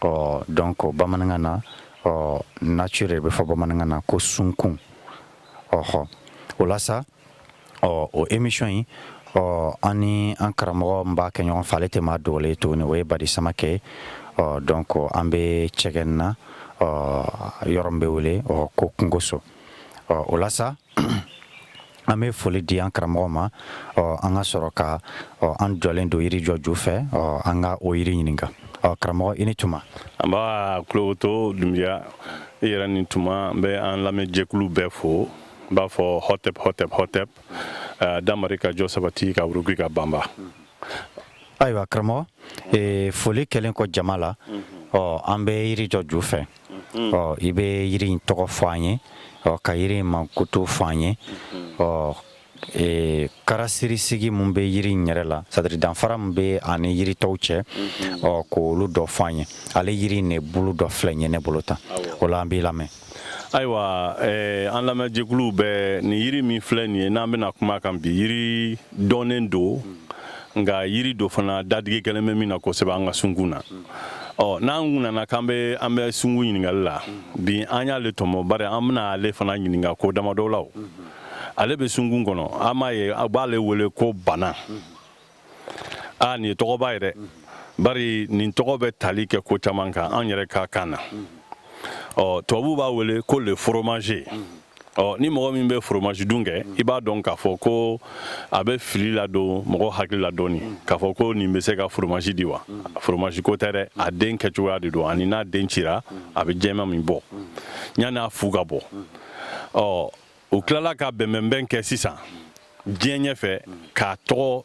ɔ donc bamanankan na ɔ nature de bɛ fɔ bamanankan na ko sunkun ɔɔ o la sa ɔ o emisɔn in ɔ an ni an karamɔgɔ min b'a kɛ ɲɔgɔn fɛ ale tɛ maa dogolen ye tuguni o ye badi samakɛ ye ɔ donc an bɛ cɛgɛn na ɔ yɔrɔ min bɛ wele ɔ ko kungoso ɔ o la sa an bɛ foli di an karamɔgɔ ma an ka sɔrɔ ka an jɔlen don yiri jɔ ju fɛ an ka o yiri ɲininka karamɔgɔ i ni tuma nba kulowoto dunbiya i yɛrɛ ni tuma n bɛ an lamɛnjɛkulu bɛɛ fo n b'a fɔ hɔtep hɔtep hɔtep damari ka jɔ sabati ka wuruki ka banba ayiwa karamɔgɔ foli kɛlen kɔ jama la ɔ an bɛ yiri jɔ ju fɛ Mm-hmm. ɔ i bɛ yiri in tɔgɔ fɔ an ye ɔ ka yiri in mankutu fɔ an ye mm-hmm. ɔ e, caractéristique min bɛ yiri in yɛrɛ la c'est-à-dire danfara min bɛ a ni yiri tɔw cɛ mm-hmm. ɔ k'olu dɔ fɔ an ye ale yiri in de bulu dɔ filɛ nin ye ne bolo tan o la an b'i lamɛn ayiwa e, an lamɛnjɛkuluw bɛɛ nin yiri min filɛ nin ye n'an bɛna kuma kan bi yiri dɔnnen don nka yiri don fana dadigi kɛlen bɛ min na kosɛbɛ an ka sunkun na ɔ n'an kun nana k'an bɛ an bɛ sunkun ɲininkali la bi an y'ale tɔmɔ bari an bɛna ale fana ɲininka ko damadɔ la ale bɛ sunkun kɔnɔ an b'a ye a b'ale wele ko bana a nin ye tɔgɔba ye dɛ bari nin tɔgɔ bɛ tali kɛ ko caman kan an yɛrɛ ka kan na ɔ tubabuw b'a wele ko le fromager ɔ ni mɔgɔ min bɛ foromaji dun kɛ i b'a dɔn k'a fɔ ko a bɛ fili ladon mɔgɔ hakili la dɔɔni k'a fɔ ko nin bɛ se ka foromaji di wa foromaji ko tɛ dɛ a den kɛcogoya de don ani n'a den cira a bɛ jɛman min bɔ yanni a fu ka bɔ ɔ u tilala ka bɛnbɛnbɛn kɛ sisan diɲɛ ɲɛfɛ k'a tɔgɔ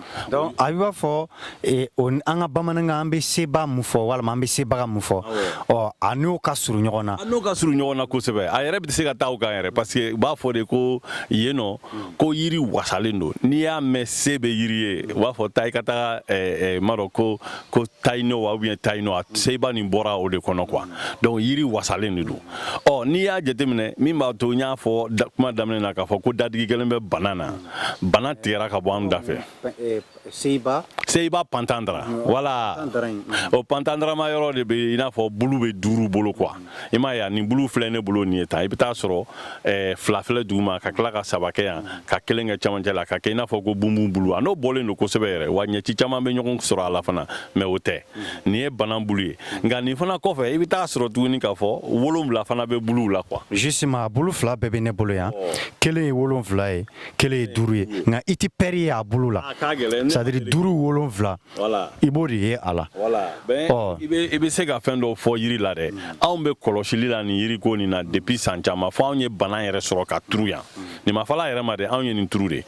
Donc a b'a fɔ eh, an ka bamanankan an bɛ seba mun fɔ walima an bɛ sebaga mun fɔ ɔ a n'o ka surun ɲɔgɔn na n'o ka surun ɲɔgɔn na kosɛbɛ a yɛrɛ bɛ se ka taa o kan yɛrɛ parce que u b'a fɔ de ko yen nɔ ko yiri wasalen don n'i y'a mɛn se bɛ yiri ye u b'a fɔ taa i ka taa eh, eh, m'a dɔn ko tayino wa ou bien tayino a ceiba nin bɔra o de kɔnɔ quoi donc yiri wasalen de don ɔ n'i y'a jateminɛ min b'a to n y'a fɔ kuma daminɛ na k'a fɔ ko dadigi kɛlen bɛ bana na bana tigɛra ka bɔ an da fɛ ceiba pentandra voilà o pentandrama yɔrɔ de bɛ i n'a fɔ bulu bɛ duuru bolo quoi i m'a ye nin bulu filɛ ne bolo nin ye tan i bɛ t'a sɔrɔ fila filɛ duguma ka tila ka saba kɛ yan ka kelen kɛ camancɛ la ka kɛ i n'a fɔ ko bunbun bulu a n'o bɔlen don kosɛbɛ yɛrɛ wa ɲɛci caman bɛ ɲɔgɔn sɔrɔ a la fana mais o tɛ nin ye bana bulu ye nka nin fana kɔfɛ i bɛ taa sɔrɔ tuguni k'a fɔ wolonwula fana bɛ bulu la quoi justement a bulu fila bɛɛ bɛ ne bolo yan kelen ye wolonwula ye kelen ye duuru ye nka i tɛ pɛri ye a bulu la c'est à dire duuru wolonwula i b'o de ye a la i bɛ se ka fɛn dɔw fɔ yiri la dɛ anw bɛ kɔlɔsili la nin yiri ko nin na depuis san caman fo anw ye bana yɛrɛ sɔrɔ ka turu yan nin ma falen a yɛrɛ ma dɛ anw ye nin turu de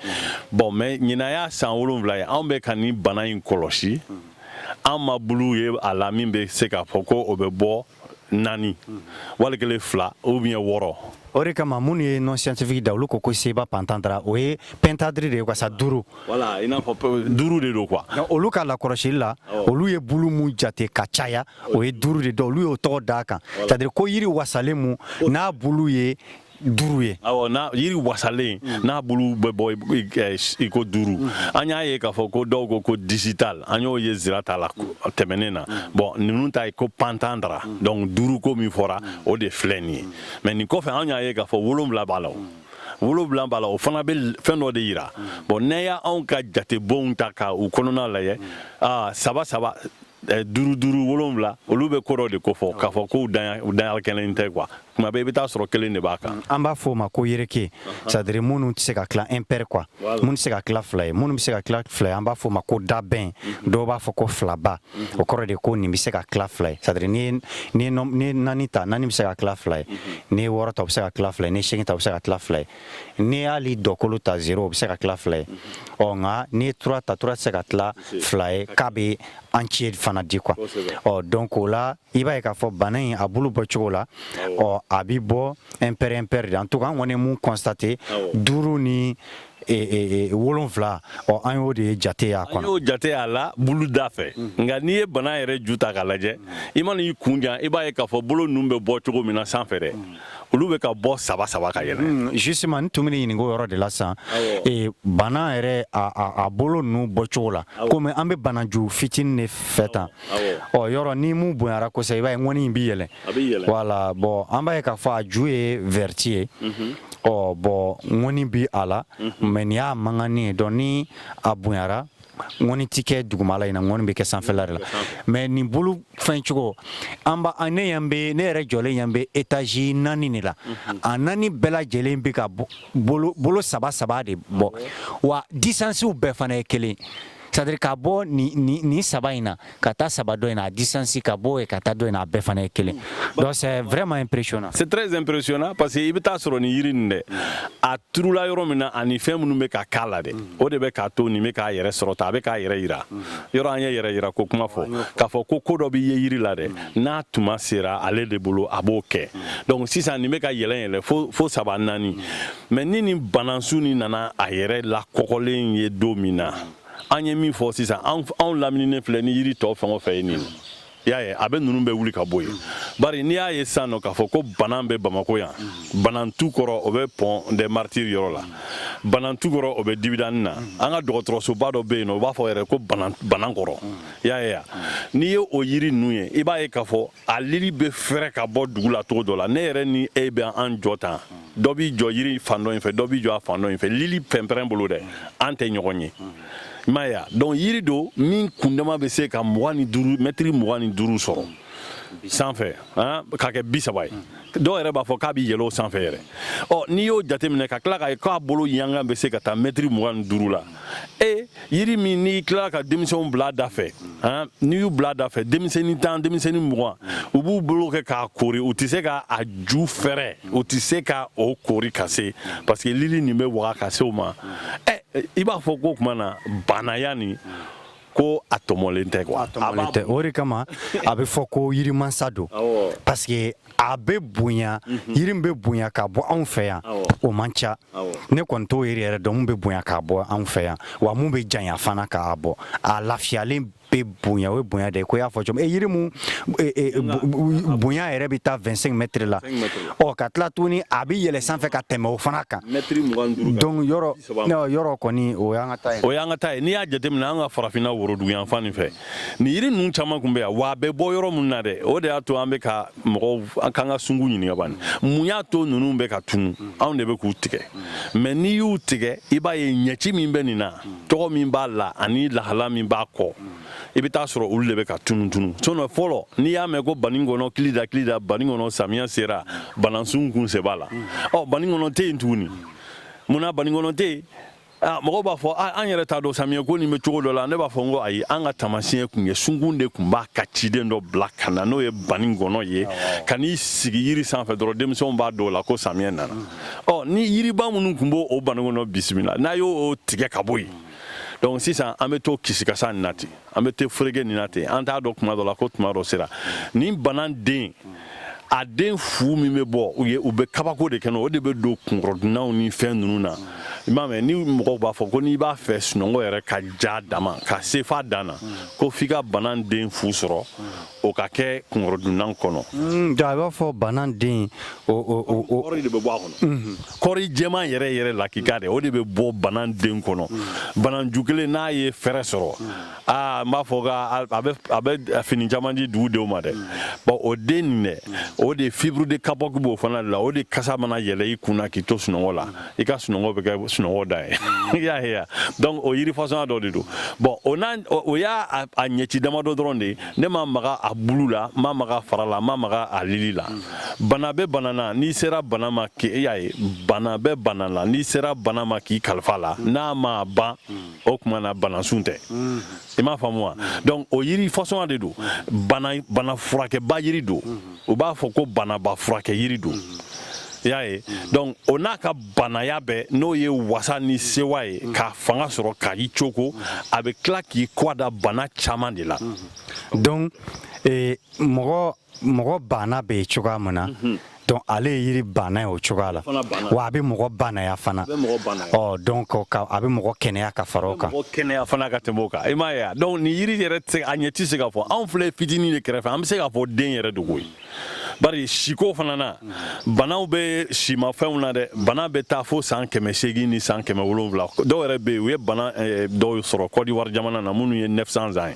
bon mais ɲinan y'a san wolonwula ye anw bɛ ka nin bana in kɔlɔsi an ma bulu ye a la min bɛ se k'a fɔ ko o bɛ bɔ naani wali kelen fila ou bien wɔɔrɔ o de kama minnu ye nom scientifique da olu ko ko Ceiba pentandra o ye pentadri de ye wasa duuru voilà i n'a fɔ duuru de don quoi olu ka lakɔlɔsili la olu ye bulu mun jate ka caya o ye duuru de donc olu y'o tɔgɔ d'a kan c'est à dire ko yiri wasalen mun n'a bulu ye duuru ye yiri wasalen mm. n'a bulu bɛ bɔ iko duuru mm. an y'a ye k'a fɔ ko dɔw ko ko digital an y'o ye zira ta la mm. tɛmɛnen na bon ninnu ta ye ko pentandra donc duuru ko min fɔra o de filɛ nin ye mais nin kɔfɛ an y'a ye k'a fɔ wolonwula b'a la wolonwula b'a la o fana bɛ fɛn dɔ de yira bon n'i y'anw ka jatebonw ta ka u kɔnɔna lajɛ saba saba eh, duuru duuru wolonwula olu bɛ ko dɔ de kofɔ k'a fɔ ko u danya kɛlen tɛ quoi kuma bɛɛ i bɛ taa sɔrɔ kelen de b'a kan mm, an b'a fɔ o ma ko yereke c'est à dire minnu tɛ se ka tila impair quoi minnu tɛ se ka tila fila ye minnu bɛ se ka tila fila ye an b'a fɔ o ma ko dabɛn mm-hmm. dɔw b'a fɔ ko filaba mm-hmm. o kɔrɔ de ko nin bɛ se ka tila fila ye c'est à dire n'i ye naani ta naani bɛ se ka tila fila ye mm-hmm. n'i ye wɔɔrɔ ta o bɛ se ka tila fila ye n'i ye seegin ta o bɛ se ka tila fila ye n'i ye hali dɔkolo ta zéro o bɛ se ka tila fila ye ɔ nka n'i ye trois ta trois tɛ se ka tila fila ye k'a bɛ entier fana di quoi ɔ donc o la i b'a ye k'a fɔ bana in a bulu bɔ cogo la ɔ a bɛ bɔ impair impair de en tout cas an kɔni ye mun constaté duuru ni wolon wolonwula ɔ an y'o de ye jateya kɔnɔ y'o jate a la bulu da fɛ nka n'i ye bana yɛrɛ ju ta k'a lajɛ i mana i kun jan i b'a ye k'a fɔ bolo ninnu bɛ bɔ cogo min na sanfɛ olu bɛ ka bɔ saba saba ka yɛlɛ hmm, justement n tun bɛ ɲininka o yɔrɔ de la sisan eh, bana yɛrɛ a bolo ninnu bɔcogo la komi an bɛ banaju fitinin de fɛ tan ɔ yɔrɔ ni mun bonyara kosɛbɛ i b'a ye ŋɔni in bɛ yɛlɛ voilà bon an b'a ye k'a fɔ a ju ye vɛriti ye mhm. ɔ bon ŋɔni bi a la mais mhm. nin y'a magannin ye donc ni a bonyara ŋɔni tɛ kɛ dugumala in na ŋɔni bɛ kɛ sanfɛla de la mais nin bolo fɛn cogo an ba an ne yan bɛ ne yɛrɛ jɔlen yan bɛ étage naani de la mhm. a naani bɛɛ lajɛlen bɛ ka bolo saba saba de bɔ wa disansiw bɛɛ fana ye kelen c'est à dire ka bɔ nin saba in na ka taa saba dɔ in na a distance ka bɔ yen ka taa dɔ in na a bɛɛ fana ye kelen donc c'est vraiment impressionnant c'est très impressionnant parce que i bɛ taa sɔrɔ nin yiri nin dɛ a turula yɔrɔ min na ani fɛn minnu bɛ ka k'a la dɛ o de bɛ k'a to nin bɛ k'a yɛrɛ sɔrɔ ta a bɛ k'a yɛrɛ yira yɔrɔ an ye yɛrɛ yira ko kuma fɔ k'a fɔ ko ko dɔ bɛ yen yiri la dɛ n'a tuma sera ale de bolo a b'o kɛ donc sisan nin bɛ ka yɛlɛ yɛlɛ fo fo saba naani mais ni nin banansun nin nana a yɛrɛ lakɔgɔlen ye don min na an ye min fɔ sisan anw lamininen filɛ ni yiri tɔ fɛn o fɛn ye nin i y'a ye a bɛɛ ninnu bɛ wuli ka bɔ yen bari n'i y'a ye sisan nɔ k'a fɔ ko banan bɛ bamako yan banantu kɔrɔ o bɛ pont des martyrs yɔrɔ la banantu kɔrɔ o bɛ dibidani na an ka dɔgɔtɔrɔsoba dɔ bɛ yen nɔ u b'a fɔ yɛrɛ ko banan kɔrɔ i y'a ye ya n'i ye o yiri ninnu ye i b'a ye k'a fɔ a lili bɛ fɛrɛ ka bɔ dugu la cogo dɔ la ne yɛrɛ ni e bɛ an jɔ tan dɔ b'i jɔ yiri fan dɔ in fɛ dɔ b'i jɔ a fan dɔ in fɛ lili pɛnpɛrɛn bolo dɛ an tɛ ɲɔgɔn ye i m'a ye a donc yiri don min kundama bɛ se ka mɛtiri mugan ni duuru sɔrɔ sanfɛ han, ka kɛ bi saba ye dɔw yɛrɛ b'a fɔ k'a bɛ yɛlɛ o sanfɛ yɛrɛ ɔ n'i y'o jateminɛ ka tila k'a ye k'a bolo yaga bɛ se ka taa mɛtiri mugan ni duuru la e yiri min n'i tilala ka denmisɛnw bila da fɛ n'i y'u bila da fɛ denmisɛnnin tan denmisɛnnin mugan u b'u bolo kɛ k'a kori u tɛ se ka a ju fɛrɛ u tɛ se ka o kori ka se parce que lili nin bɛ waga ka se o ma ɛ i b'a fɔ ko o tuma na banaya nin ko a tɔmɔlen tɛ quoi tɔmɔlen tɛ o de kama a bɛ fɔ ko yirimansa don parce que a bɛ bonya mhm. yiri min bɛ bonya k'a bɔ anw fɛ yan o man ca ne kɔni t'o yiri yɛrɛ dɔn mun bɛ bonya k'a bɔ anw fɛ yan wa mun bɛ janya fana k'a bɔ a lafiyalen bɛ bonya o ye bonya de ye ko y'a fɔ cogo min e yiri mun e, e, bonya yɛrɛ bɛ taa 25 mètres la ɔ ka tila tuguni a bɛ yɛlɛ sanfɛ ka tɛmɛ o fana kan donc yɔrɔ yɔrɔ kɔni o y'an ka ta ye o y'an ka ta ye n'i y'a jateminɛ an ka farafinna woroduguyanfan nin fɛ nin yiri ninnu caman tun bɛ yan wa a bɛ bɔ yɔrɔ minnu na dɛ o de y'a to an bɛ ka mɔgɔw k'an ka sungu ɲininka bani mun y'a to ninnu bɛ ka tunu anw de bɛ k'u tigɛ mais n'i y'u tigɛ i b'a ye ɲɛci min bɛ nin na tɔgɔ min b'a la ani lahala min b'a kɔ i bɛ taa sɔrɔ olu de bɛ ka tunun tunun sinon fɔlɔ n'i y'a mɛn ko banikɔnɔ kili da kili da banikɔnɔ samiyɛ sera banansun kun se b'a la ɔ banikɔnɔ tɛ yen tuguni mun na banikɔnɔ tɛ yen Ah, mɔgɔw b'a fɔ ah, an yɛrɛ t'a dɔn samiyɛ ko nin bɛ cogo dɔ la ne b'a fɔ n ko ayi an ka taamasiyɛn kun ye sunkun de kun b'a ka ciden dɔ bila ka na n'o ye banikɔnɔ ye ka n'i sigi yiri sanfɛ dɔrɔn denmisɛnw b'a dɔn o la ko samiyɛ nana ɔ ni yiriba minnu kun b'o banikɔnɔ bisimila n'a y'o tigɛ ka bɔ yen donc sisan an bɛ to kisikasa nin na ten an bɛ to ferege nin na ten an t'a dɔn kuma dɔ la ko tuma dɔ sera nin bana den a den fu min bɛ bɔ u ye u bɛ kabako de kɛ o de bɛ don kunkɔrɔdunnanw ni fɛn ninnu na i m'a mɛn ni mɔgɔw b'a fɔ ko n'i b'a fɛ sunɔgɔ yɛrɛ ka ja dama ka se f'a dan na ko f'i ka bana den fu sɔrɔ o ka kɛ kunkɔrɔdunnan kɔnɔ. Hmm, i b'a fɔ bana den o o o o de bɛ bɔ a kɔnɔ. kɔri jɛman yɛrɛ yɛrɛ lakika dɛ o de bɛ bɔ bana den kɔnɔ bananju kelen n'a ye fɛɛrɛ sɔrɔ aa n b'a fɔ ka a bɛ fini caman di dugu denw ma dɛ bon o den nin dɛ o de fibre de kapɔki b'o fana la o de kasa mana yɛlɛ i kunna k'i to sunɔgɔ la i ka sunɔgɔ bɛ kɛ sunɔgɔ da ye i y'a ye donc o yiri fasɔnya dɔ de don bon o n'a o y'a a ɲɛci damadɔ dɔrɔn de ye ne ma maga a bulu la ma maga a fara la ma maga a lili la bana bɛ bana na n'i sera bana ma k'i y'a ye bana bɛ bana la n'i sera bana ma k'i kalifa a la n'a ma ban o tuma na banasun tɛ i m'a faamu wa donc o yiri fasɔn de don bana furakɛba yiri don u b'a fɔ ko banaba furakɛ yiri don i y'a ye donc o n'a ka bannaya bɛɛ n'o ye wasa ni sewa ye k'a fanga sɔrɔ ka i cogo a bɛ tila k'i kɔ da bana caman de la donc eh, mɔgɔ mɔgɔ banna bɛ cogoya min na donc ale ye yiri banna ye o cogoya la wa a bɛ mɔgɔ bannaya fana ɔ donc a bɛ mɔgɔ kɛnɛya ka fara o kan mɔgɔ kɛnɛya fana ka tɛmɛ o kan i m'a ye a donc nin yiri yɛrɛ a ɲɛ tɛ se ka fɔ anw filɛ fitinin de kɛrɛfɛ an bɛ se ka fɔ den yɛrɛ don koyi bari siko fana na banaw bɛ simafɛnw na dɛ bana bɛ taa fo san kɛmɛ seegin ni san kɛmɛ wolonwula dɔw yɛrɛ bɛ yen u ye bana eh, dɔw sɔrɔ kɔdiwari jamana na minnu ye 900 ans ye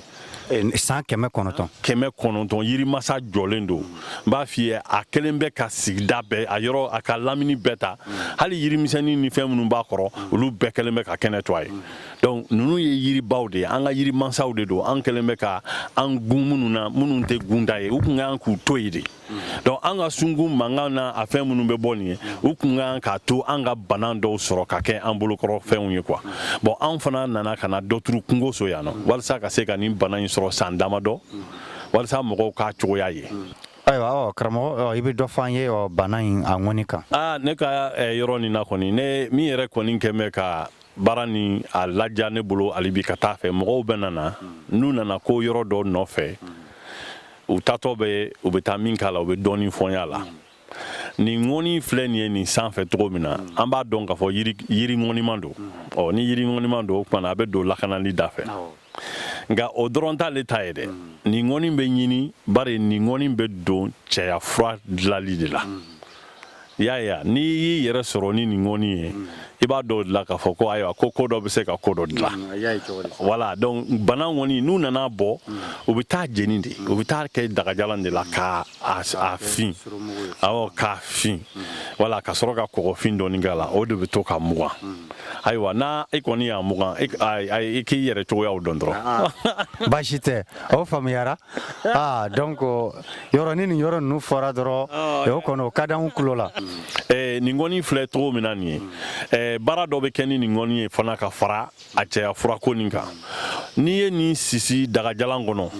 san kɛmɛ kɔnɔntɔn kɛmɛ kɔnɔntɔn yirimasa jɔlen don n b'a f'i ye a kelen bɛ ka sigida bɛɛ a yɔrɔ a ka lamini bɛɛ ta hali yirimisɛnnin ni fɛn minnu b'a kɔrɔ olu bɛɛ kɛlen bɛ ka kɛnɛ to a ye donc ninnu ye yiribaw de ye an ka yirimansaw de don an kɛlen bɛ ka an gun minnu na minnu tɛ gunda ye u tun kan k'u to yen de donc an ka sungun mankan na a fɛn minnu bɛ bɔ nin ye u tun ka kan k'a to an ka bana dɔw sɔrɔ ka kɛ an bolokɔrɔ fɛnw ye quoi bon anw fana nana ka na dɔ turu kungo so yan nɔ walasa ka se ka nin bana in sɔrɔ san damadɔ walasa mɔgɔw k'a cogoya ye ayiwa ɔ karamɔgɔ ɔ i bɛ dɔ fɔ an ye ɔ bana in a ŋɔni kan aa ne ka eh, yɔrɔ nin na kɔni ne min yɛrɛ kɔni kɛ bɛ ka baara ni a laja ne bolo hali bi ka taa fɛ mɔgɔw bɛ nana n'u nana ko yɔrɔ dɔ nɔfɛ u taatɔ bɛ u bɛ taa min k'a la u bɛ dɔɔnin fɔnya la nin ŋɔni filɛ nin ye nin sanfɛ cogo min na an b'a dɔn k'a fɔ yiri ŋɔniman don ɔ ni yiri ŋɔniman don o kuma na a bɛ don lakanali da fɛ nka o dɔrɔn t'ale ta ye dɛ nin ŋɔni bɛ ɲini bari nin ŋɔni bɛ don cɛya fura dilali de la i y'a ye n'i y'i yɛrɛ sɔrɔ ni nin ŋɔni ye i b'a dɔw dilan k'a fɔ ko ayiwa ko ko dɔ bɛ se ka ko dɔ dilan mm, voilà donc bana ŋɔni n'u nana bɔ mm. u bɛ taa jeni de u bɛ taa kɛ dagajalan de la ka a fin awɔ k'a fin mm. wala ka sɔrɔ ka kɔgɔfin dɔɔni k'a la o de bɛ to ka mugan ayiwa n'a i kɔni y'a mugan i k'i yɛrɛ cogoyaw dɔn dɔrɔn ah, ah. baasi tɛ o faamuyara aa donc yɔrɔ ni nin yɔrɔ ninnu fɔra dɔrɔn eh, o kɔni o ka d'anw tulo la eh, nin ŋɔni filɛ cogo min na nin ye eh, baara dɔ bɛ kɛ ni nin ŋɔni ye fana ka fara a cɛya furako nin kan n'i ye nin sisi dagajalan kɔnɔ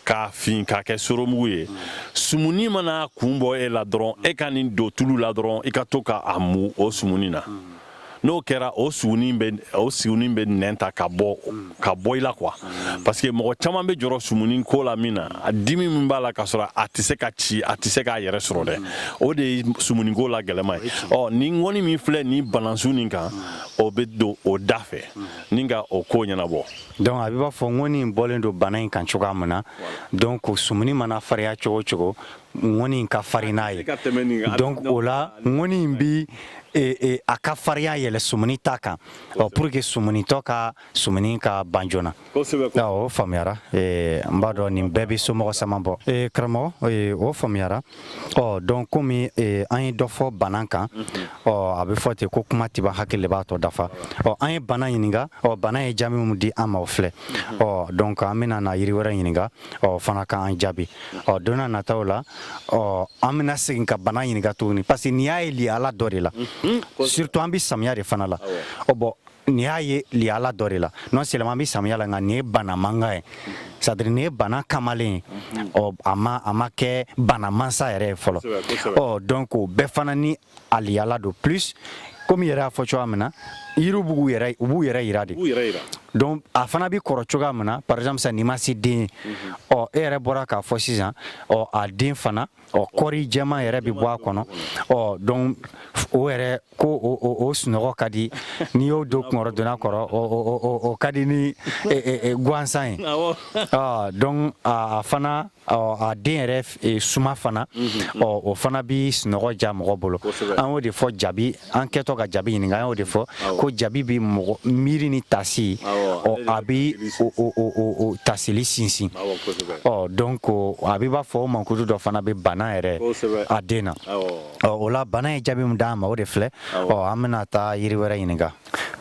k'a fin k'a kɛ soromugu ye sumuni mana kun bɔ e la dɔrɔn e ka nin don tulu la dɔrɔn i ka to ka a mu o sumuni na n'o kɛra o sugunin bɛ o sugunin bɛ nɛn ta ka bɔ ka bɔ i la quoi parce que mɔgɔ caman bɛ jɔrɔ sumuni ko la min na a dimi min b'a la ka sɔrɔ a tɛ se ka ci a tɛ se k'a yɛrɛ sɔrɔ dɛ o de ye sumuni ko la gɛlɛma ye ɔ ni ŋɔni min filɛ nin banasun nin kan o bɛ don o da fɛ ni ka o ko ɲɛnabɔ donc a bɛ b'a fɔ ŋɔni in bɔlen don bana in kan cogoya min na donc sumuni mana fariya cogo o cogo ŋɔni in ka farin n'a ye donc o la ŋɔni in bi e, e, a ka farinya yɛlɛ sumuni ta kan ɔ pour que sumunitɔ ka sumuni ka ban joona o faamuyara e, n b'a dɔn nin bɛɛ bɛ somɔgɔ sama bɔ e, karamɔgɔ e, o faamuyara ɔ donc komi e, an ye dɔ fɔ bana kan mhm. ɔ a bɛ fɔ ten ko kuma tɛ ban hakili de b'a tɔ dafa ɔ an ye bana ɲininka ɔ bana ye jaabi min di an ma o filɛ mhm. ɔ donc an bɛna na yiri wɛrɛ ɲininka o fana k'an jaabi ɔ don na nataw la ɔ an bɛna segin ka bana ɲininka tuguni parce que nin y'a ye lihala dɔ de la mhm, surtout an bɛ samiya de fana la ɔ bon nin y'a ye lihala dɔ de la non seulement an bɛ samiya la nka nin ye bana mankan ye c'est à dire nin ye bana kamalen ye mhm. ɔ a ma a ma kɛ bana mansa yɛrɛ ye fɔlɔ ɔ donc o bɛɛ fana ni a lihala don plus komi yɛrɛ y'a fɔ cogoya min na yiriw b'u yɛrɛ u b'u yɛrɛ yira de donc a fana bɛ kɔrɔ cogoya min na par exemple sani i ma se den ye mhm. ɔ e yɛrɛ bɔra k'a fɔ sisan ɔ a den fana ɔ kɔri jɛman yɛrɛ bɛ bɔ a kɔnɔ ɔ donc o yɛrɛ ko o sunɔgɔ ka di n'i y'o don kunkɔrɔdonnan kɔrɔ o ka di ni gansan ye donc a fana a den yɛrɛ e, suma fana mhm. ɔ o fana bi sunɔgɔ diya mɔgɔ bolo an y'o de fɔ jabi an kɛtɔ ka jabi ɲininka an y'o de fɔ ko jabi bi mɔgɔ miiri ni tasi ɔ a bi o tasili sinsin ɔ donc a bi b'a fɔ o mankutu dɔ fana bɛ bana yɛrɛ a den na ɔ o la bana ye jaabi min d'an ma o de filɛ ɔ an bɛna taa yiri wɛrɛ ɲininka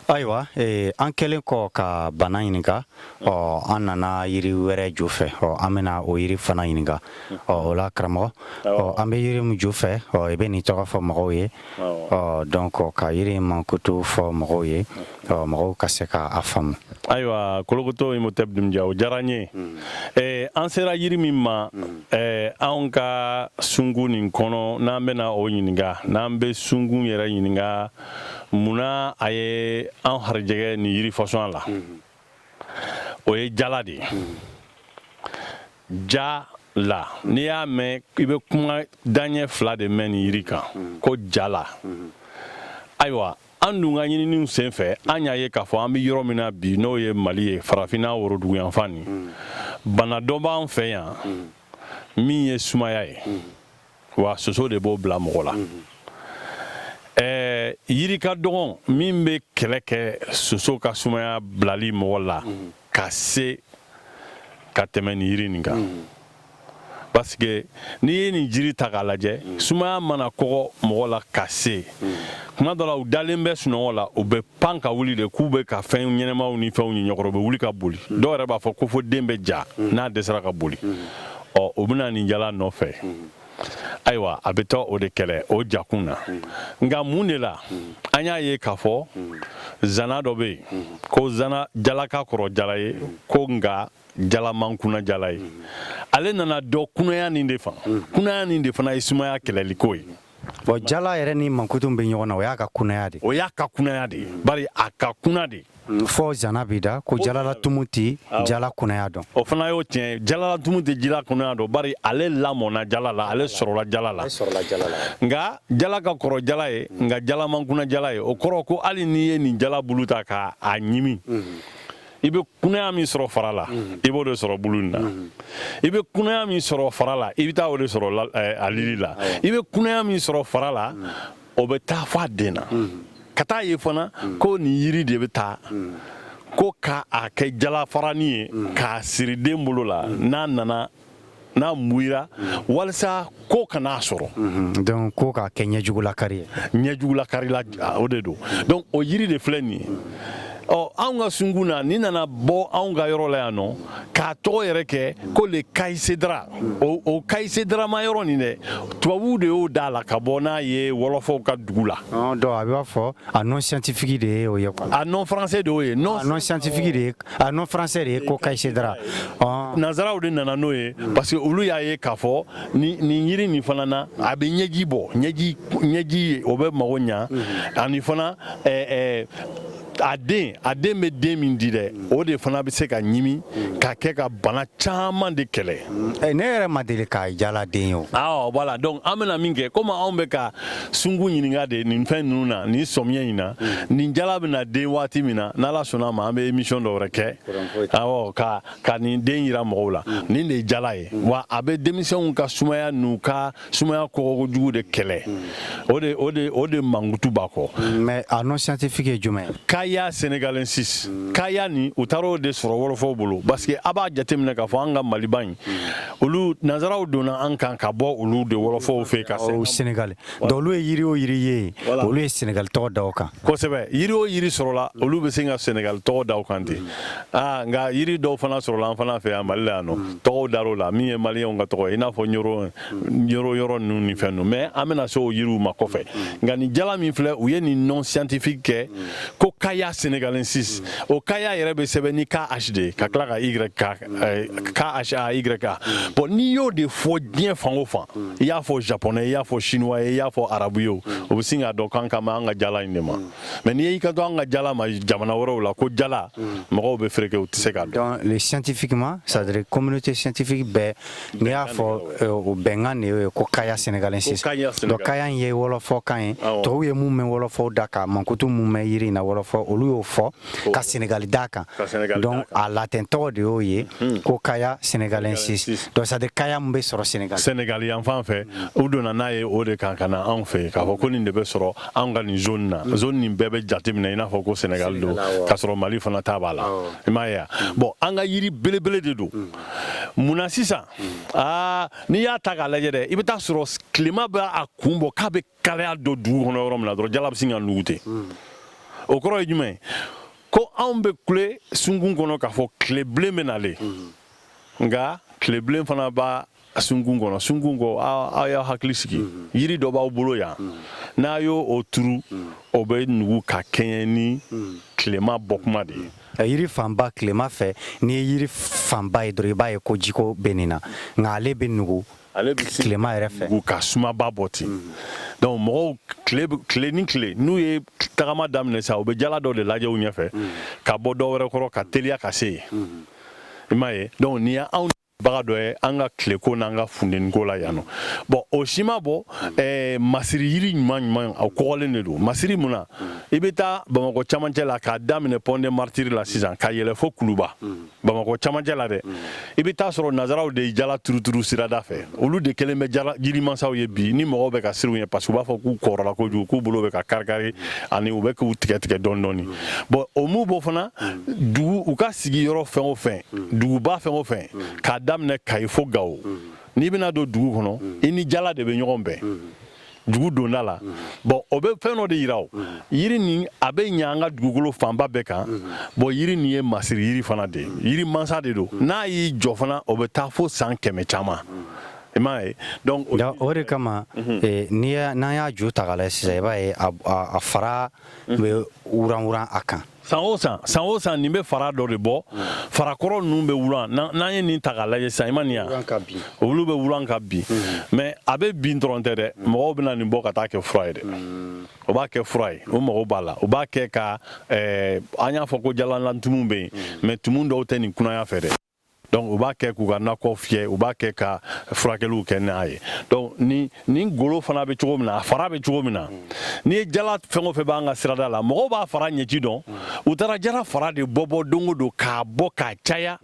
ayiwa eh, an kɛlen kɔ ka bana ɲininka ɔ an nana yiri wɛrɛ ju fɛ ɔ an bɛna o yiri fana ɲininka ɔ o la karamɔgɔ ɔ an bɛ yiri min ju fɛ ɔ i bɛ nin tɔgɔ fɔ mɔgɔw ye ɔ donc ka yiri mankutu fɔ mɔgɔw ye ɔ mɔgɔw ka se ka a faamu ayiwa kolokoto imhotep dunbuya o diyara n ye hmm. eh, an sera yiri min ma hmm. eh, anw ka sungun nin kɔnɔ n'an bɛna o ɲininka n'an bɛ sungun yɛrɛ ɲininka munna a ye an harijɛgɛ nin yiri fasɔn la o ye jala de ye ja la n'i y'a mɛn i bɛ kuma daɲɛ fila de mɛn nin yiri kan ko jala ayiwa an dun ka ɲininiw sen fɛ an y'a ye k'a fɔ an bɛ yɔrɔ min na bi n'o ye mali ye farafinna woroduguyanfan nin bana dɔ b'an fɛ yan min ye sumaya ye wa soso de b'o bila mɔgɔ la ɛɛ yiri ka dɔgɔn min bɛ kɛlɛ kɛ soso ka sumaya bilali mɔgɔ la ka se ka tɛmɛ nin yiri nin kan parce que n'i ye nin jiri ta k'a lajɛ sumaya mana kɔgɔ mɔgɔ la ka se kuma dɔ la u dalen bɛ sunɔgɔ la u bɛ pan ka wuli de k'u bɛ ka fɛn ɲɛnamaw ni fɛnw y'u ɲɛkɔrɔ u bɛ wuli ka boli mm. dɔw yɛrɛ b'a fɔ ko fo den bɛ ja mm. n'a dɛsɛra ka boli mm. ɔ o bɛ na nin jala nɔfɛ ayiwa a bɛ taa o de kɛlɛ o jakun na nka mun de la an y'a ye k'a fɔ zana dɔ bɛ yen ko zana jala ka kɔrɔ jala ye ko nka jala man kuna jala ye ale nana dɔ kunaya nin de fan kunaya nin de fana ye sumaya kɛlɛliko ye bon jala yɛrɛ ni mankutu bɛ ɲɔgɔn na o y'a ka kunaya de o y'a ka kunaya de ye bari a ka kuna de fɔ zana b'i da ko jalalatumu tɛ jala kunaya dɔn o fana y'o tiɲɛ jalalatumu tɛ jala kunaya dɔn bari ale lamɔna jala la ale sɔrɔla jala la nka jala ka kɔrɔ jala ye nka jala man kuna jala ye o kɔrɔ ko hali n'i ye nin jala bulu ta ka a ɲimi i bɛ kunaya min sɔrɔ fara la mhm. i b'o de sɔrɔ bulu in na mhm. i bɛ kunaya min sɔrɔ fara la i bɛ taa o de sɔrɔ eh, a lili la i bɛ kunaya min sɔrɔ fara la mhm. o bɛ taa fɔ a den na ka taa ye fana ko nin yiri de bɛ ta ko ka a kɛ jalafarani ye k'a siri den bolo la n'a nana n'a muira walisa ko kan'a sɔrɔ mhm. donc ko k'a kɛ ɲɛjugulakari ye ɲɛjugulakarila o de don donc o yiri de filɛ nin ye ɔ anw ka sungun na ni nana bɔ anw ka yɔrɔ la yan nɔ k'a tɔgɔ yɛrɛ kɛ ko le caïlcédrat o o kayisedarama yɔrɔ nin dɛ tubabuw de y'o da la ka bɔ n'a ye wɔlɔfɔw ka dugu la. donc a b'a fɔ a nom scientifique de ye o ye quoi. a nom français de y'o ye. non a nom scientifique de ye A nom français de ye ko caïlcédrat nanzaraw de nana n'o ye parce que olu y'a ye k'a fɔ nin yiri nin fana na a bɛ ɲɛji bɔ ɲɛji ye o bɛ mago ɲa ani fana a den a den bɛ den min di dɛ o de fana bɛ se ka ɲimi ka kɛ ka bana caman de kɛlɛ ne yɛrɛ ma deli ka jaladen ye o voilà donc an bɛna min kɛ komi anw bɛ ka sunkun ɲininka de nin fɛn ninnu na nin sɔmiɲɛ in na mm. nin jala bɛna den waati min na n'Ala sɔnna a ma an bɛ émission dɔ wɛrɛ kɛ awɔ ka ka nin den yira mɔgɔw la mm. nin de ye jala ye mm. wa a bɛ denmisɛnw ka sumaya n'u ka sumaya kɔgɔkojugu de kɛlɛ o de o de o de mankutu b'a kɔ mais a nom scientifique ye jumɛn ye kaya senegalensis kaya nin u taara o de sɔrɔ wɔlɔfɔw bolo parce que a b'a jateminɛ k'a fɔ an ka maliba in olu nanzaraw donna an kan ka bɔ olu de wɔlɔfɔw fɛ ka Senegali olu ye yiri o yiri ye olu ye Senegali tɔgɔ d'a kan kosɛbɛ yiri o yiri sɔrɔla olu bɛ se ka Senegali tɔgɔ d'a kan ten aa nka yiri dɔw fana sɔrɔla an fana fɛ yan mali la yan nɔ tɔgɔw dara o la min ye maliyɛnw ka tɔgɔ i n'a fɔ yɔrɔ yɔrɔ ninnu ni fɛn ninnu mais an bɛna se o yiriw ma kɔfɛ nka nin jala min filɛ u ye nin nom scientifique kɛ ko kaya senegalensis o kaya yɛrɛ bɛ sɛbɛn ni KH de ka tila ka Y A eh, KHAYA bon n'i y'o de fɔ diɲɛ fan o fan i y'a fɔ japonais ye i y'a fɔ chinois ye i y'a fɔ arabu ye o bɛ sin k'a dɔn k'an kan b'an ka jala in de ma mais n'i y'i kanto an ka jala ma jamana wɛrɛw la ko jala mɔgɔw bɛ fereke u tɛ se k'a dɔn le scientifiquement c'est à dire communauté scientifique bɛɛ n'i y'a fɔ eh, o bɛnkan de ye ko kaya sénégalensis donc kaya in ye wɔlɔfɔkan ye tɔw ye mun mɛn wɔlɔfɔw da ka mankutu mun mɛn yiri in na wɔlɔfɔ olu y'o fɔ ka Senegali d'a kan donc a latin tɔgɔ de y'o ye hmm. ko kaya senegalensis donc c'est à dire kaya min bɛ sɔrɔ senegal senegal yan fan fɛ u donna n'a ye o de kan ka na anw fɛ k'a fɔ ko nin de bɛ sɔrɔ anw ka nin zone na hmm. zone nin bɛɛ bɛ jateminɛ i n'a fɔ ko senegal don k'a sɔrɔ mali fana ta b'a la i m'a ye wa hmm. bon an ka yiri belebele de don munna sisan aa n'i y'a ta k'a lajɛ dɛ i bɛ taa a sɔrɔ tilema bɛ a kun bɔ k'a bɛ kalaya don dugu kɔnɔ yɔrɔ min na dɔrɔn jala bɛ sin ka nugu ten hmm. o kɔrɔ ye jumɛn ko anw bɛ kule sunkun kɔnɔ k'a fɔ tilebilen bɛ nalen hmm. nka tilebilen fana b'a sunkun kɔnɔ sunkun kɔ aw y'aw hakili sigi hmm. yiri dɔ b'aw bolo yan n'a y'o turu o bɛ nugu ka kɛɲɛ ni tilema bɔkuma de ye yiri fanba tilema fɛ n'i ye yiri fanba ye dɔrɔn i b'a ye ko jiko bɛ nin na nka ale bɛ nugu Ale bɛ nugu tilema yɛrɛ fɛ nugu ka sumaba bɔ ten donc mɔgɔw tile ni tile n'u ye tagama daminɛ sa u bɛ jala dɔ de lajɛ u ɲɛfɛ ka bɔ dɔ wɛrɛ kɔrɔ ka teliya ka se yen i m'a ye donc nin y'anw baga dɔ ye an ka tileko n'an ka funteniko la yan bon o si ma bɔ masiri yiri ɲuman ɲuman a kɔgɔlen de don masiri mun na i bɛ taa bamakɔ camancɛ la k'a daminɛ pont des martyrs la sisan ka yɛlɛ fo kuluba bamakɔ camancɛ la dɛ mm. i bɛ taa sɔrɔ nazaraw de ye jala turuturu sirada fɛ olu de kɛlen bɛ jirimansaw ye bi ni mɔgɔw bɛ ka siran u ɲɛ parce que u b'a fɔ k'u kɔrɔla kojugu k'u bolow bɛ ka karikari mm. ani u bɛ k'u tigɛtigɛ dɔɔni dɔɔni mm. bon o mu bɔ fana dugu u ka sigiyɔrɔ fɛn o fɛn duguba fɛn o fɛn k'a daminɛ kayi fo gawo n'i bɛna don dugu kɔnɔ i ni jala de bɛ ɲɔgɔn bɛn dugu donda la bon o bɛ fɛn dɔ de yira o yiri nin a bɛ ɲɛ an ka dugukolo fanba bɛɛ kan bon yiri nin ye masiri yiri fana de ye yiri mansa de don n'a y'i jɔ fana o bɛ taa fo san kɛmɛ caman i m'a ye donc o de kama mhm. eh, n'i y'a n'an y'a ju ta k'a lajɛ sisan i b'a ye a fara mhm. bɛ wuran wuran a kan san o san san o san nin bɛ fara dɔ de bɔ farakɔrɔ ninnu bɛ wulan n'an ye nin ta k'a lajɛ sisan i ma nin yan olu bɛ wulan ka bin mais a bɛ bin dɔrɔn tɛ dɛ mɔgɔw bɛ na nin bɔ ka taa kɛ fura ye dɛ o b'a kɛ fura ye o mago b'a la o b'a kɛ ka an y'a fɔ ko jalalantumu bɛ yen mais tumu dɔw tɛ nin kunaya fɛ dɛ donc u b'a kɛ k'u ka nakɔ fiyɛ u b'a kɛ ka furakɛliw kɛ i m'a ye donc nin golo fana bɛ cogo min na a fara bɛ cogo min na n'i ye jala fɛn o fɛn b'an ka sirada la mɔgɔw b'a fara ɲɛci dɔn u taara jala fara de bɔ bɔ don o don k'a bɔ k'a caya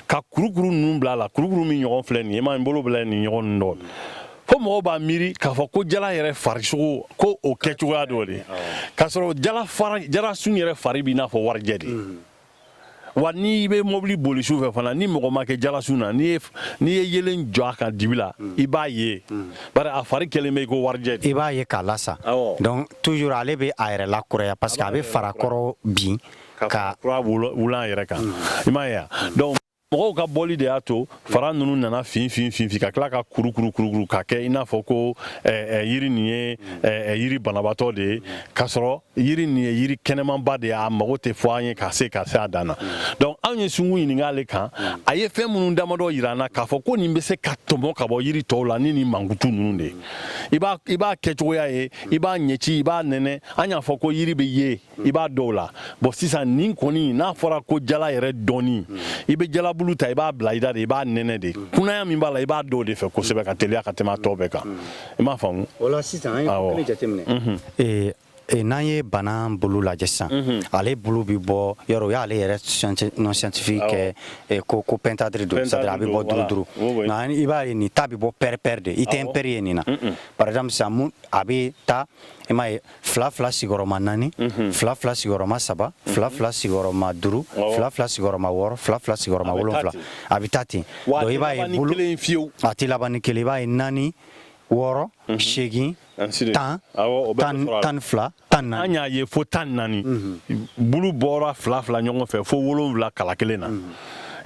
ka kurukuru ninnu bila a la kurukuru min ɲɔgɔn filɛ nin ye i m'a ye n bolo bila nin ɲɔgɔn ninnu dɔ fo mɔgɔw b'a miiri k'a fɔ ko jala yɛrɛ farisogo ko o kɛcogoya dɔ de k'a sɔrɔ jala sun yɛrɛ fari b'i n'a fɔ warijɛ de wa n'i bɛ mobili boli su fɛ fana ni mɔgɔ ma kɛ jalasun na n'i ye yeelen jɔ a kan dibi la i b'a ye bari a fari kɛlen bɛ i ko warijɛ i b'a ye k'a lasa donc toujours ale bɛ a yɛrɛ lakuraya parce que a bɛ farakɔrɔ bin ka kura wulan a yɛrɛ kan i m'a ye wa donc mɔgɔw ka bɔli de y'a to fara ninnu nana fin fin fin fin ka tila ka kuru kuru kuru kuru ka kɛ i n'a fɔ ko yiri nin ye yiri banabatɔ de ye k'a sɔrɔ yiri nin ye yiri kɛnɛmanba de ye a mago tɛ fɔ an ye ka se ka se a dan na donc anw ye sungun ɲininka ale kan a ye fɛn minnu damadɔ yira an na k'a fɔ ko nin bɛ se ka tɔmɔ ka bɔ yiri tɔw la ni nin mankutu ninnu de ye i b'a kɛcogoya ye i b'a ɲɛci i b'a nɛnɛ an y'a fɔ ko yiri bɛ ye i b'a dɔn o la bon sisan nin kɔni n'a fɔra ko jala yɛrɛ dɔnni i bɛ jalabulu ta i b'a bila i da de i b'a nɛnɛ de kunaya min b'a la i b'a dɔn o de fɛ kosɛbɛ ka teliya ka tɛmɛ a tɔ bɛɛ kan i m'a faamu o la sisan an ye kelen jateminɛ mhm. eh, eh, n'an ye bana bulu lajɛ sisan mhm. ale bulu bɛ bɔ yɔrɔ o y'ale yɛrɛ nom scientifique kɛ eh, ko ko pentandre don c'est à dire a bɛ bɔ duuru duuru nka i b'a ye nin ta bɛ bɔ pair pair de i tɛ impair ye nin na par exemple sisan a bɛ taa i m'a ye fila fila sigiyɔrɔma naani mhm. fila fila sigiyɔrɔma saba mhm. fila fila sigiyɔrɔma duuru fila fila sigiyɔrɔma wɔɔrɔ fila fila sigiyɔrɔma wolonfila a bɛ taa ten donc i b'a ye bulu a tɛ laban ni kelen i b'a ye naani wɔɔrɔ mhm. seegin tan tan fila tan naani an y'a ye fo tan naani bulu bɔra fila fila ɲɔgɔn fɛ fo wolonfila kala kelen na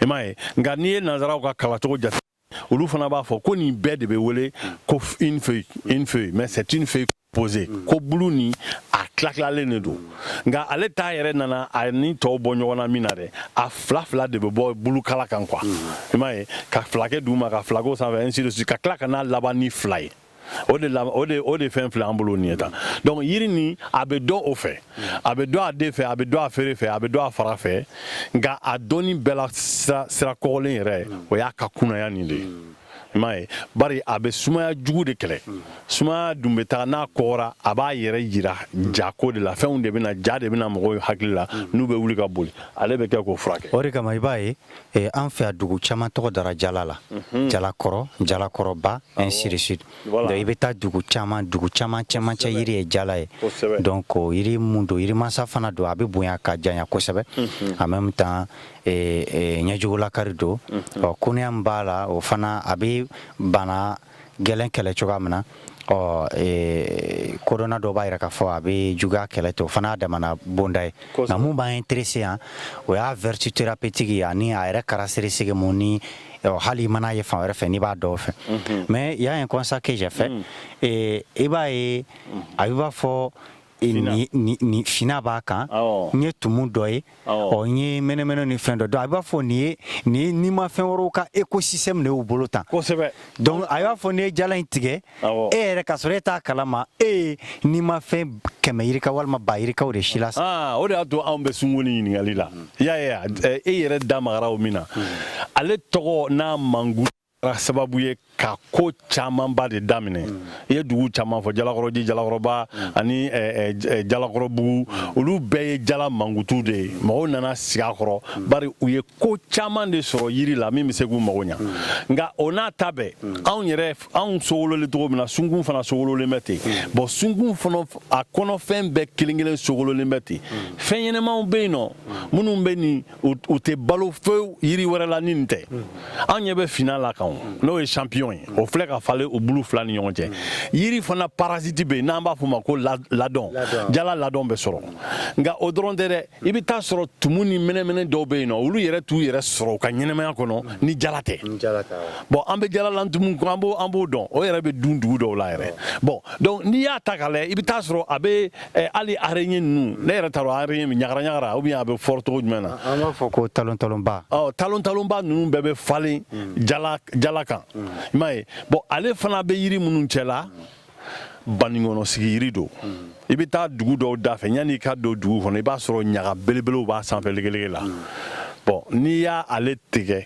i m'a ye nka n'i ye nanzaraw ka kalancogo jate olu fana b'a fɔ ko nin bɛɛ de bɛ wele ko une feuille une feuille mais c'est une feuille posée ko bulu ni a tilatilalen de don nka ale ta yɛrɛ nana a ni tɔw bɔ ɲɔgɔn na min na dɛ a fila fila de bɛ bɔ bulukala kan quoi i m'a ye ka fila kɛ duguma ka fila k'o sanfɛ ainsi de suite ka tila ka n'a laban ni fila ye o de o de o de fɛn filɛ an bolo nin ye tan donc yiri nin a bɛ dɔn o fɛ a bɛ dɔn a den fɛ a bɛ dɔn a feere fɛ a bɛ dɔn a fara fɛ nka a dɔnni bɛɛ la sira sira kɔgɔlen yɛrɛ o y'a ka kunaya nin de ye i m'a ye bari a bɛ sumaya jugu de kɛlɛ sumaya dun bɛ taa n'a kɔgɔra a b'a yɛrɛ yira ja ko de la fɛnw de bɛ na ja de bɛ na mɔgɔw hakili la n'u bɛ wuli ka boli ale bɛ kɛ k'o furakɛ o de kama i b'a ye eh, an fɛ yan dugu caman tɔgɔ dara jala la mhm. jalakɔrɔ jalakɔrɔba ainsi de suite donc i bɛ taa dugu caman dugu caman cɛmancɛ yiri ye jala ye donc yiri mun don yirimasa fana don a bɛ bonya ka janya kosɛbɛ mhm. en même temps eh, eh, ɲɛjugulakari don mhm. ɔ kunaya min b'a la o fana a bɛ bana gɛlɛn kɛlɛ cogoya min na ɔ e, kodɔnna dɔw b'a yira k'a fɔ a bɛ juguya kɛlɛ ten o fana y'a damana bonda ye nka mun b'an intéressé yan o y'a vertu thérapeutique ani a yɛrɛ caractéristique mun ni hali i man'a ye fan wɛrɛ fɛ n'i b'a dɔn o fɛ mais il y a un constat que j'ai fait mm. et i b'a ye a bɛ b'a fɔ finina b'a kan n ye tumu dɔ ye ɔ n ye mɛnɛmɛnɛ ni fɛn dɔ dɔn a b'a fɔ nin ye nin ye nimafɛn wɛrɛw ka écosystème de y'u bolo tan donc a y'i b'a fɔ n'e ye ja in tigɛ e yɛrɛ k'a sɔrɔ e t'a kalama e ye nimafɛn kɛmɛ yirika walima ba yirikaw de silasa o de y'a to anw bɛ sunko nin ɲininkali la i y'a ye e yɛrɛ da magara o min na ale tɔgɔ n'a manku sababu ye ka ko camanba de daminɛ i ye dugu caman fɔ jalakɔrɔji jalakɔrɔba ani jalakɔrɔbugu olu bɛɛ ye jala mankutu de ye mɔgɔw nana sigi a kɔrɔ bari u ye ko caman de sɔrɔ yiri la min bɛ se k'u mago ɲa nka o n'a ta bɛɛ anw yɛrɛ anw sogololen cogo min na sunkun fana sogololen bɛ ten bon sunkun fana a kɔnɔfɛn bɛɛ kelen kelen sogololen bɛ ten fɛn ɲɛnɛmaw bɛ yen nɔ minnu bɛ nin u tɛ balo fewu yiri wɛrɛ la ni nin tɛ an ɲɛ bɛ fina la kan n'o ye champignon ye o filɛ ka falen o bulu fila ni ɲɔgɔn cɛ yiri fana parasiti bɛ yen n'an b'a fɔ ma ko ladɔn jala ladɔn bɛ sɔrɔ nka o dɔrɔn tɛ dɛ i bɛ taa sɔrɔ tumu ni mɛnɛmɛnɛ dɔw bɛ yen nɔ olu yɛrɛ t'u yɛrɛ sɔrɔ u ka ɲɛnɛmaya kɔnɔ ni jala tɛ bon an bɛ jalalantumu an b'o an b'o dɔn o yɛrɛ bɛ dun dugu dɔw la yɛrɛ bon n'i y'a ta k'a lajɛ i bɛ taa sɔrɔ a bɛ Ɛ hali araignée ninnu ne yɛrɛ t'a dɔn araignée min ɲagara ɲagara ou bien a bɛ fɔ di cogo jumɛn na an b'a fɔ ko talon talonba ɔ talon talonba ninnu bɛɛ bɛ falen hmm. jala jala kan hmm. i m'a ye bon ale fana bɛ yiri minnu cɛla banikɔnɔ sigi yiri don hmm. i bɛ taa dugu dɔw da fɛ yanni i ka don dugu kɔnɔ i b'a sɔrɔ ɲaga belebelew b'a sanfɛ legelege la bon n'i y'a ale tigɛ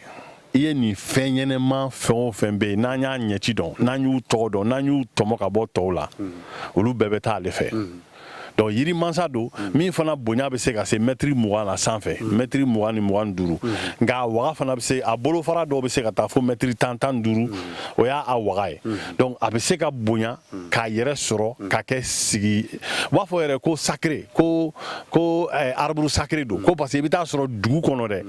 i ye nin fɛn ɲɛnɛma fɛn o fɛn bɛ yen n'an y'a ɲɛci dɔn n'an y'u tɔgɔ dɔn n'an y'u tɔmɔ ka bɔ tɔw la olu bɛɛ bɛ taa ale fɛ donc yiri mansa don min fana bonya bɛ se ka se mɛtiri mugan na sanfɛ mɛtiri mugan ni mugan duuru nka a waga fana bɛ se a bolofara dɔw bɛ se ka taa fo mɛtiri tan tan duuru o y'a a waga ye donc a bɛ se ka bonya k'a yɛrɛ sɔrɔ ka kɛ sigi u b'a fɔ yɛrɛ ko sacré ko ko eh, arbre sacré don ko parce que i bɛ taa sɔrɔ dugu kɔnɔ dɛ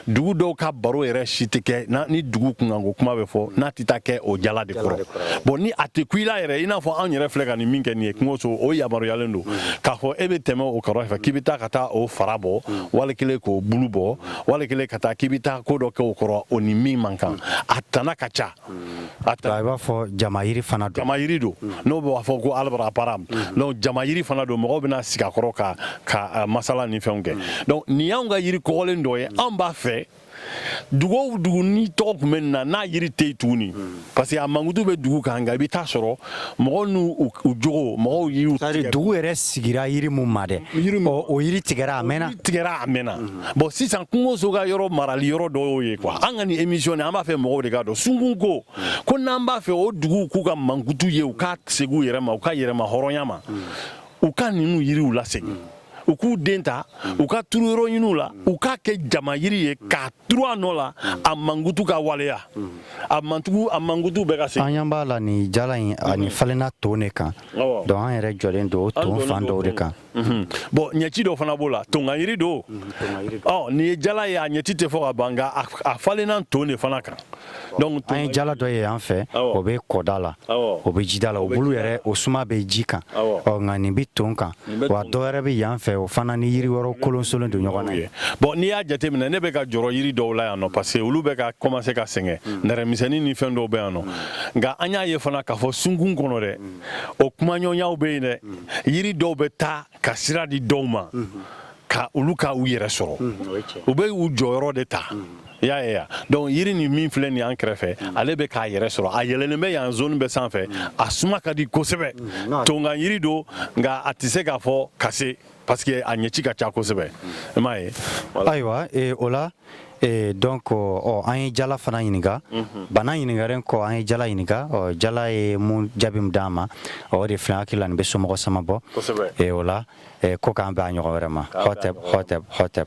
dugu dɔw ka baro yɛrɛ si tɛ kɛ ni dugu kunkanko kuma bɛ fɔ n'a tɛ taa kɛ o jala de kɔrɔ bon ni a tɛ kun i la yɛrɛ i n'a fɔ anw yɛrɛ filɛ ka nin min kɛ nin ye kungoso o yamaruyalen don k'a fɔ e bɛ tɛmɛ o kɔrɔ fɛ k'i bɛ taa ka taa o fara bɔ wali kelen k'o bulu bɔ wali kelen ka taa k'i bɛ taa ko dɔ kɛ o kɔrɔ o ni min man kan a tana ka ca A ta i b'a fɔ jama yiri fana don jama yiri don n'o b'a fɔ ko arbre à palabre donc jama yiri fana don mɔgɔw bɛna sigi a kɔrɔ ka masala ni fɛnw kɛ donc nin y'anw ka yiri kɔgɔlen dɔ ye an b'a fɛ dugu o dugu nin tɔgɔ tun bɛ min na n'a yiri tɛ yen tuguni parce que a mankutu bɛ dugu kan nka i bɛ taa sɔrɔ mɔgɔw n'u jogo mɔgɔw y'u tigɛ dugu yɛrɛ sigira yiri mun ma dɛ o yiri tigɛra a mɛnna tigɛra a mɛnna bon sisan kungoso ka yɔrɔ marali yɔrɔ dɔ y'o ye quoi an ka nin émission nin an b'a fɛ mɔgɔw de k'a dɔn sunkun ko ko n'an b'a fɛ o duguw k'u ka mankutu ye u ka segin u yɛrɛ ma u ka yɛrɛma hɔrɔnya ma u ka ninnu yiriw lasegin u k'u den ta u k'a turu yɔrɔ ninnu la u k'a kɛ jama yiri ye k'a turu a nɔ la a mankutu ka waleya a mantugu a mankutu bɛ ka se an ɲɛ b'a la nin jala in ani falenna ton de kan donc an yɛrɛ jɔlen don o ton fan dɔw de kan mhm. bon ɲɛci dɔ fana b'o la tonkan yiri don mhm, ɔ nin ye jala ye a ɲɛci tɛ fɔ ka ban nka a falenna ton de fana kan donc an ye jala dɔ ye yan fɛ o bɛ kɔda la o bɛ jida la o bulu yɛrɛ o suma bɛ ji kan ɔ nka nin bɛ ton kan wa dɔ wɛrɛ bɛ yan fɛ o fana ni yiri wɛrɛw kolonsolen don ɲɔgɔn na bon n'i y'a jateminɛ ne bɛ ka jɔrɔ yiri dɔw la yan nɔ parce que olu bɛ ka commencer ka sɛgɛn hmm. nɛrɛmisɛnnin ni fɛn dɔw bɛ yan nɔ hmm. nka an y'a ye fana k'a fɔ sunkun kɔnɔ dɛ hmm. o kumaɲɔgɔnyaw bɛ yen dɛ yiri dɔw bɛ taa ka sira di dɔw ma ka olu ka u yɛrɛ sɔrɔ u bɛ u jɔyɔrɔ de ta i y'a ye ya donc yiri nin min filɛ nin an kɛrɛfɛ ale bɛ k'a yɛrɛ sɔrɔ a yɛlɛlen bɛ yan zone bɛ sanfɛ a suma ka di kosɛbɛ tonkan yiri don nka a tɛ se k'a fɔ ka se parce que a ɲɛci ka ca kosɛbɛ i m'a ye ayiwa o la Ee donc ɔ an ye jala fana ɲininka bana ɲininkalen kɔ an ye jala ɲininka ɔ jala ye mun jaabi min d'an ma o de filɛ an hakili la nin bɛ somɔgɔ sama bɔ ee o la ko k'an bɛn a ɲɔgɔn wɛrɛ ma hɔtɛp hɔtɛp hɔtɛp